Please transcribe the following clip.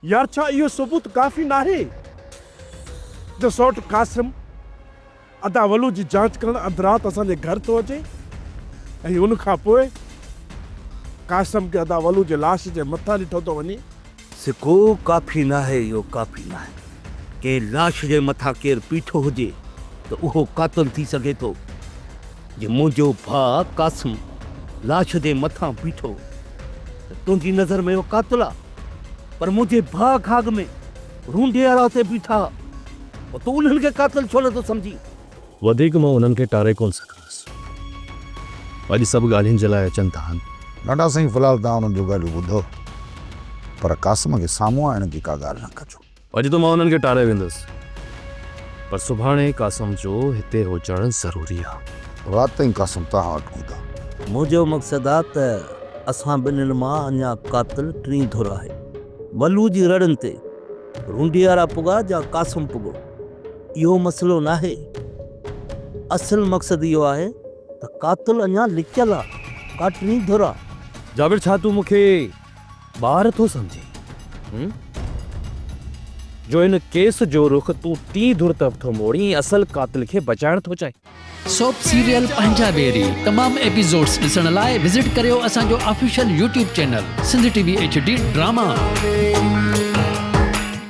يار ڇا اهو ثبوت ڪافي ناهي؟ جو سئوٽ قاسم ادا ولو جي جاچ ڪرڻ اڌ رات اسان جي گهر ٿو اچي ۽ ان کان پوء قاسم کي ادا ولو جي لاش جي مٿان ڏٺو ٿو وڃي. سکو ڪافي ناهي اهو ڪافي ناهي. ڪنهن لاش جي مٿان ڪير پيٺو هجي ته اهو قاتل ٿي سگهي ٿو. جي منهنجو ڀاء قاسم لاش جي مٿان بيٺو ته تنهنجي نظر ۾ اهو قاتل آ پر منهنجي ڀاء کاڳ ۾ رونڊي اراء تي بيٺا هئا پوء تون انهن کي قاتل ڇو نٿو سمجهين. وڌيڪ مان انهن کي ٽاري ڪونه سگهندس. اڄ سڀ ڳالهين جي لاء اچن ٿا هن. ناڊا سائين في الحال توهان انهن جون ڳالهيون ٻڌو پر قاسم کي سامهون آڻڻ جي ڪا ڳالهه نه ڪجو. اڄ ته مان انهن کي ٽاري ويندس پر سڀاڻي قاسم جو هتي هجڻ ضروري آ. رات تائين قاسم توهان وٽ هوندا. منهنجو مقصد آ ته اسان ٻنهين مان اڃا قاتل ٽين ڌر آهي. ولو جي رڙن تي رونڊيارا پڳا جا قاسم پڳو. اهو مسئلو ناهي، اصل مقصد اهو آهي ته قاتل اڃا لڪيل آ، ڪا ٽين ڌر آ. جابر ڇا تون مون کي ٻار ٿو سمجهين هون جو هن ڪيس جو رخ تون ٽين ڌر طرف ٿو موڙين ۽ اصل قاتل کي بچائڻ ٿو چاهين. سوپ سيريل پنهنجا ويري تمام ايپيسوڊز ڏسڻ لاء وزٽ ڪريو اسان جو official YouTube channel Sindh T V H D drama.